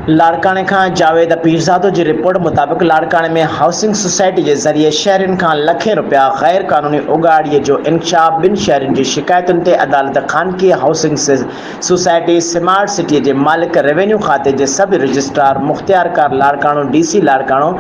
لاڙڪاڻي کان جاويد پيرزادو جي رپورٽ مطابق لاڙڪاڻي ۾ هائوسنگ سوسائٽي جي ذريعي شهرين کان لکين رپيا غير قانوني اڳاڙي جو انڪشاف ٻن شهرين جي شڪايتن تي عدالت خانگي هائوسنگ سوسائٽي سمارٽ سٽي جي مالڪ روينيو کاتي جي سب رجسٽرار مختيارڪار Larkana D C Larkana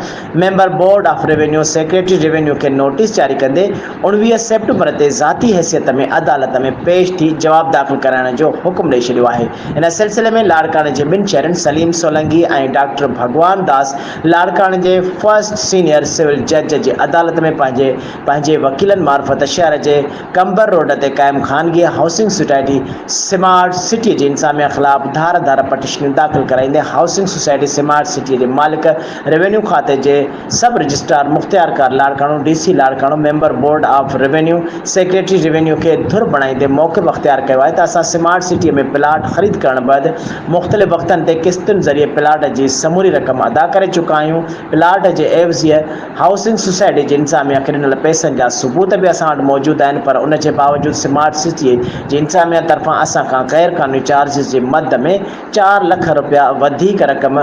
member board of revenue secretary revenue کي نوٽيس جاري ڪندي اوڻويهه سيپٽمبر تي ذاتي حيثيت ۾ عدالت ۾ پيش ٿي جواب داخل ڪرائڻ جو حڪم ڏئي ڇڏيو آهي ان سلسلي ۾ لاڙڪاڻي جي ٻن شهرين سليم سولنگي ۽ ڊاڪٽر ڀڳوان داس لاڙڪاڻي جي فرسٽ سينيئر سول جج جي عدالت ۾ پنهنجي پنهنجي وڪيلن معرفت شهر جي قمبر روڊ تي قائم خانگي هائوسنگ سوسائٽي سمارٽ سٽي جي انتظاميا خلاف ڌار ڌار پٽيشنيون داخل ڪرائيندي هائوسنگ سوسائٽي سمارٽ سٽي جي مالڪ روينيو کاتي جي سب رجسٽرار مختيارڪار Larkana, D C Larkana, member board of revenue, secretary revenue کي ڌر بڻائيندي موقف اختيار ڪيو آهي ته اسان سمارٽ سٽي ۾ پلاٽ خريد ڪرڻ بعد مختلف وقتن تي قسطن ذريعي پلاٽ جي سموري رقم ادا ڪري چڪا آهيون، پلاٽ جي عيوضي هائوسنگ سوسائٽي جي انتظاميا کي ڏنل پئسن جا ثبوت به اسان وٽ موجود آهن پر ان جي باوجود سمارٽ سٽي جي انتظاميا طرفان اسان کان غير قانوني چارجز جي مد ۾ چار لک رپيا وڌيڪ رقم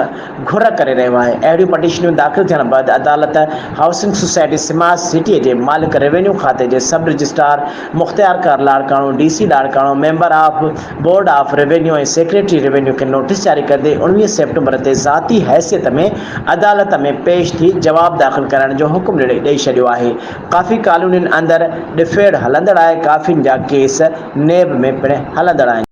گهر ڪري رهيو آهي، اهڙيون پٽيشنون داخل ٿيڻ بعد عدالت هائوسنگ سوسائٽي سمارٽ سٽي جي مالڪ روينيو کاتي جي سب رجسٽرار مختيار ڪار Larkana, D C Larkana, member of board of revenue ۽ secretary revenue کي نوٽيس جاري ڪندي اوڻويهه سيپٽمبر تي ذاتي حيثيت ۾ عدالت ۾ پيش ٿي جواب داخل ڪرائڻ جو حڪم ڏئي ڇڏيو آهي، ڪافي ڪالونين اندر ڏڦيڙ هلندڙ آهي، ڪافين جا ڪيس نيب ۾ پڻ هلندڙ آهن.